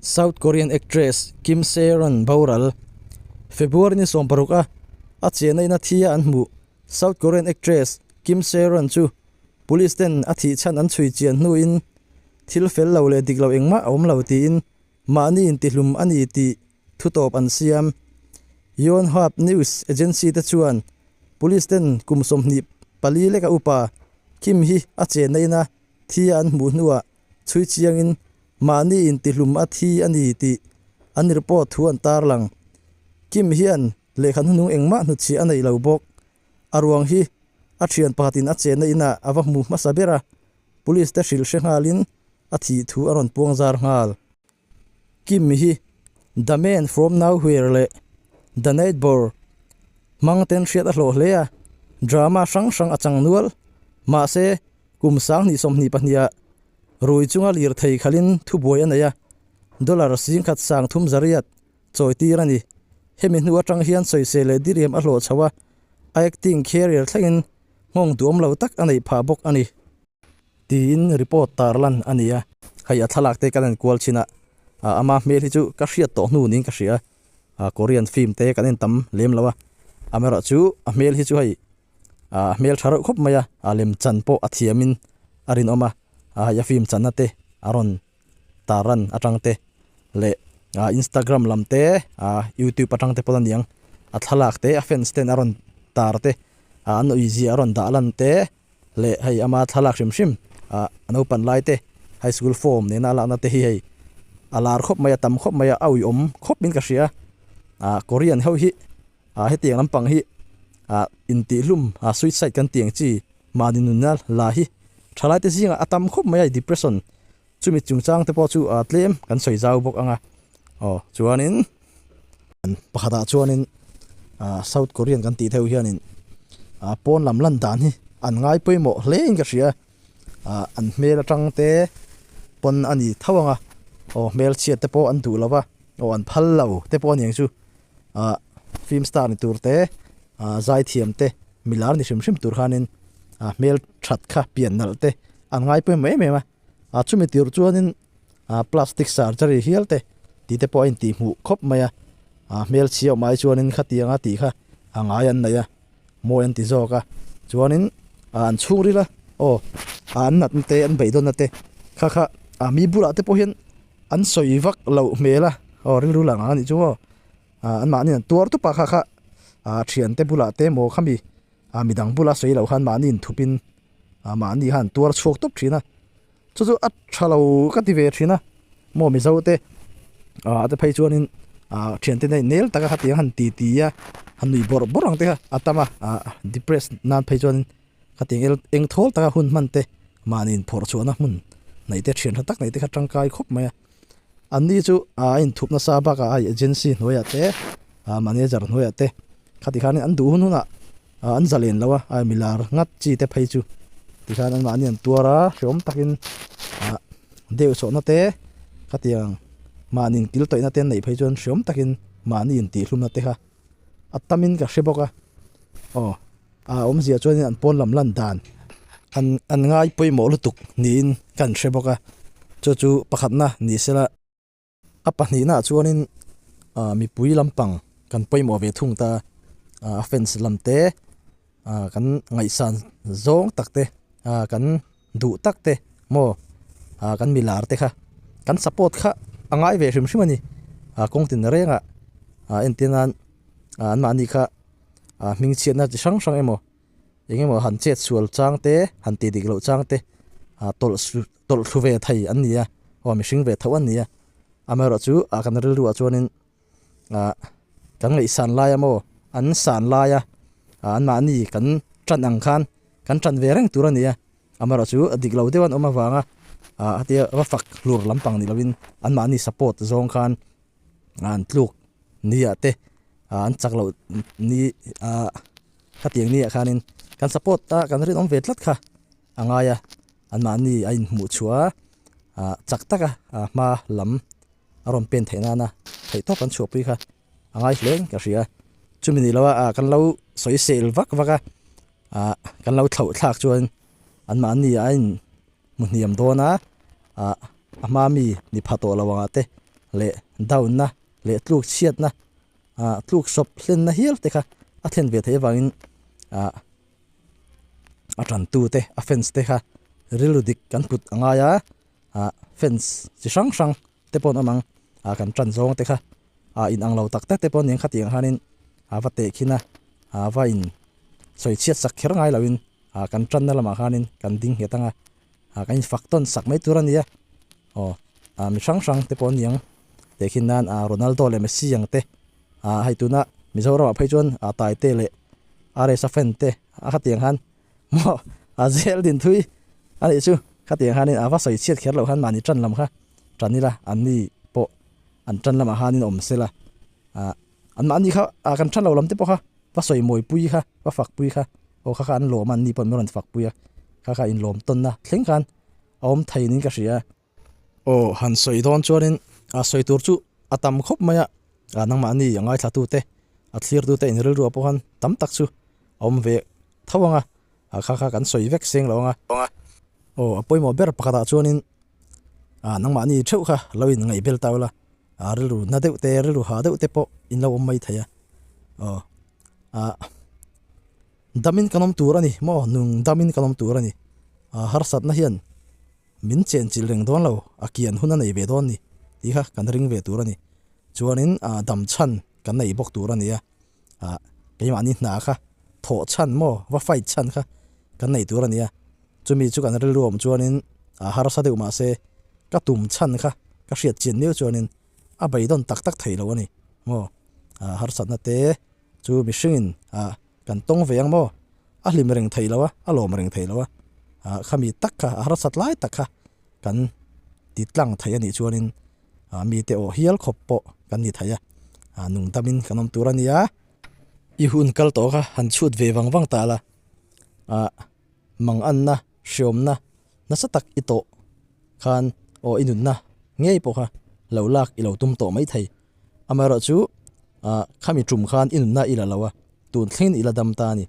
South Korean actress Kim Se-ron boral February ni sawm paruk a a chiahna in a thi a an hmuh South Korean actress Kim Se-ron chu police ten a thih chhan an chhui chian hnu in thil fel lo leh dik lo engmah a awm lo tiin mahni intihlum a ni tih thu tawp an siam. Yonhap news agency te chuan police ten kum sawmhnih pali leka upa Kim hi a chiahna in a thi a an hmuh hnuah chhui chiangin mahni intihlum a thi a ni tih an report thu an tarlang. Kim hian lehkha hnunung engmah hnuchhiah a neih lo bawk. A ruang hi a thian pakhatin a chenna inah a va hmu hmasa ber a, police-te hrilhre nghalin a thih thu a rawn puang zar nghal. Kim hi The Man From Nowhere leh The Neighbour hmangten hriat a hlawh hle a, drama hrang hrang a chang nual. Mahse, kum sanghnih sawmhnih pahniha rui chunga lirthei khalhin thubuai a nei a, dollar singkhat sang thum zariat chawitir a ni. Hemi hnu atang hian sawiseh leh diriam a hlawh chho a, acting career thlengin nghawng duamlo tak a neih phah bawk a ni. Tiin report tar lan a nia. Hei a thlalak te kan en kual chin a, a ama hmel hi chu ka hriat tawh hnu niin ka hria. A Korean film te kan en tam lem lo a, amerawh chu a hmel hi chu hei a hmel tha reuh khawp mai a, a lem chan pawh a thiamin a rinawm a, a hei a film channa te a rawn Taran atang te, le Instagram lam te, YouTube atang te pawh aniang. A thlalak te, a fans ten aron tar te, an ui zia aron dah lan te, le hei ama thlalak hrim hrim, naupan lai te, high school form nena alak na te hi hei. A lar khop mai, a tam khop mai, a ui om khop min ka hria. Korean ho hi, Hetiang lampang hi intihlum, suicide, kan ti ang chi, mahni nunna la hi thalaite zingah a tam khawp mai a, depression, chumi chungchang te pawh chu tlem kan sawi zau bawk ang a. Aw, chuanin pakhatah chuanin South Korean kan tih theih ho hianin pawn lam lan dan hi an ngai pawimawh hle in ka hria. ah an hmel atang te pawn a ni tho ang a, aw hmelchhiat te pawh an duh lo va, aw an phal lo te pawh a ni ang chu, ah film star ni tur te ah zaithiam te milar ni hrim hrim tur khanin ah hmel that kha pian nalh te an ngai pawimawh em em a, ah chumi tur chuanin ah plastic surgery hial te tih te pawh a intihhmuh khawp mai a, ah hmelchhia awmah hi chuanin khatianga tih kha a ngai an neih a. Maw an ti zawk a, chuanin a an chhungril a, aw, a an natna te, an beihdawnna te kha kha a mi bulah te pawh hian an sawi vak loh hmel a, aw rilru lang ang a nih chu maw, a an mahni an tuar tup a kha kha a thian te bulah te maw khami a midang bula sawi loh khan mahni in thupin a mahni khan an tuar chhuak tawp thin a. Chu chu a tha lo ka ti ve thin a, maw mizo te a te phei chuan in a thian te nei nel taka hetiang han ti ti a han nui bawrh bawrh ang te kha a tam a a depress nan phei chuan in hetiang el eng thawl taka hun hman te mahni in phawrh chhuahna hmun neih te thian tha tak neih te kha tangkai khawp mai a. An ni chu a inthup nasa bakah a agency hnuaiah te, a manager hnuaiah te khati khanin an duh hun hunah an za len lo a, a milar ngat chi te phei chu ti khan anmahni an tuar a, hreawm takin deuh chhohna te khati ang mahniin kil tawih nate an neih phei chuan hreawm takin mahni intihhlumna te kha a tamin ka hre bawk a, aw. A awmzia chuanin an pawn lam lan dan an an ngai pawimawh lutuk niin ka in hre bawk a, chu chu pakhatna ni sela. A pahnihnaah chuanin mipui lampang kan pawimawh ve thung ta a, a fans lam te kan ngaihsan zawng tak te, kan duh tak te maw kan milar te kha kan support kha a ngai ve hrim hrim a ni, kawngtin rengah entir nan anmahni kha ah hming chhiatna chi hrang hrang emaw eng emaw han chet sual chang te han ti dik loh chang te ah tawlh sual tawlh thlu ve thei an ni a aw mihring ve thoh an ni a amaherawh chu ah kan rilru ah chuan in ah kan ngaihsan lai emaw an san lai a ah an mahni kan tan ang khan kan tan ve reng tur a ni a amaherawh chu a dik lo deuh an awm avanga ah hetia va fak hlur lampang nih loh in an mahni support zawng khan. an tluk nia te an chak lo ni a hetiang ni ah khanin kan support ta kan rinawm ve tlat kha a ngai a an mahni a in hmuh chhuah a a chak taka a hma lam a rawn pen theih nana theih tawp an chhuah pui kha a ngai hle ka hria chumi ni loh a kan lo sawi sel vak vak a a kan lo thlauh thlak chuan an mahni a in. hmu hniam dawn a, ah a hma mi ni pha tawh lo angah te leh down na leh tluk chhiat na ah tluk sawp hlen na hial te kha a thlen ve theih avang in ah a tan tu te a fans te kha rilru dik kan kut a ngai a ah fans chi hrang hrang. te paw'n awm ang, aa kan tan zawng te kha aa inang lo tak tak te paw'n eng khatiang hianin aa va tehkhin a, aa va in sawi chhiat sak kher ngai loin aa kan tanna lamah hianin kan ding nghet ang a, aa kan in fak tawn sak mai tur a ni a, aw aa mi hrang hrang te pawh an ni ang, tehkhin nan aa Ronaldo leh Messi ang te, aa hei tuna Mizoramah phei chuan aa Taite leh RS-a fan te a khatiang khan Maw? A zel din thui a nih chu. Khatiang hianin a va sawi chhiat kher loh han mahni ṭan lam kha ṭan ila, anni pawh an ṭan lamah hianin a awm sela. Ah, anmahni kha a kan ṭha lo lam te pawh kha va sawi mawi pui kha, va fak pui kha, aw kha kha an lawm a, anni pawh an lo rawn fak pui a, kha kha inlawm tawnna thleng khan a awm theihin ka hria. Aw han sawi dawn chuanin a sawi tur chu a tam khawp mai a, nangmahni a ngaithlatu te a thlirtute inrilruah pawh khan tam tak chu a awm ve tho ang a, a kha kha kan sawi vek seng lo ang a. Aw a pawimawh ber pakhatah chuanin a nangmahni theuh kha lo in ngaih bel ta ula, a rilru na deuh te rilru ha deuh te pawh in lo awm mai thei a, aw a damin kan awm tur a ni maw, nung damin kan awm tur a ni, a harsatna hian Min chenchilh reng dawn lo, a kian hun a nei ve dawn ni tih kha kan ring ve tur a ni. Chuanin dam chhan kan nei bawk tur a nia, keimahni hna kha thawh chhan maw, va fight chhan kha kan nei tur a nia. Chumi chu kan rilru awm chuanin harsa deuh mah se ka tum chhan kha ka hriat chin miau chuanin a beidawn tak tak thei lo a ni maw. Harsatna te chu mihringin. Kan tawng ve ang maw? A hlim reng thei lo a, a lawm reng thei lo a, ah, khami tak kha, a harsat lai tak kha kan ti tlang thei a nih chuanin, ah, mite aw hial khawp pawh kan ni thei a, ah, nung damin kan awm tur a nia. I hun kal tawh kha han chhut ve vang vang ta la, ah, mang anna, hriawmna nasa tak i tawh khan, aw i nunna ngei pawh kha lo lak i lo tum tawh mai thei. Amaherawh chu khami ṭum khan i nunna i la lo a, tun thlengin i la dam ta a ni.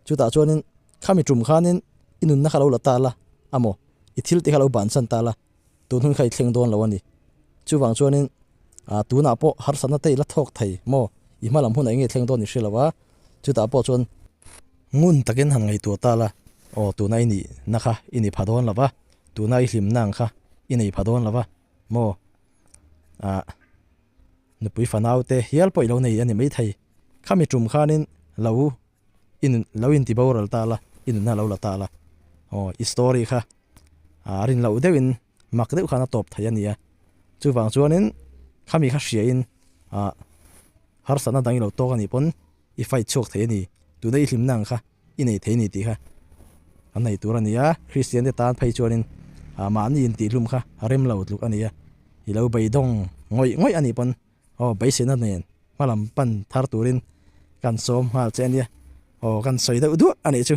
Chutah chuanin khami ṭum khanin i nunna kha lo la ta la a maw, i thil te kha lo banchan ta la, tunhun kha i thleng dawn lo a ni. Chuvang chuanin tunah pawh harsatna te i la thawk thei maw, i hma lam hunah enge i thleng dawn i hre lo a, chutah pawh chuan ngun takin han ngaihtuah ta la, aw tuna i nihna kha i ni pha dawn lo va, tuna i hlimna ang kha i nei pha dawn lo va maw. ah nupui fanaute hial pawh i lo nei a ni mai thei. Khami tum khanin lo in, lo in ti boral ta la, i nunna lo la ta la. Aw, i story kha ah a rin loh deuhin mak deuh khan a tawp thei a ni a. Chuvang chuanin khami kha hriain ah harsatna dang i lo tawk a nih pawn i fight chhuak thei a ni. Tuna i hlimna ang kha. I nei thei ni tih kha kan nei tur a ni a, Kristiante tan phei chuanin mahni intihhlum kha a rem lo tluk a ni a, i lo beidawng ngawih ngawih a nih pawn aw beiseina nen hmalam pan thar turin kan sawm nghal che a nia, aw kan sawi deuh duah a nih chu.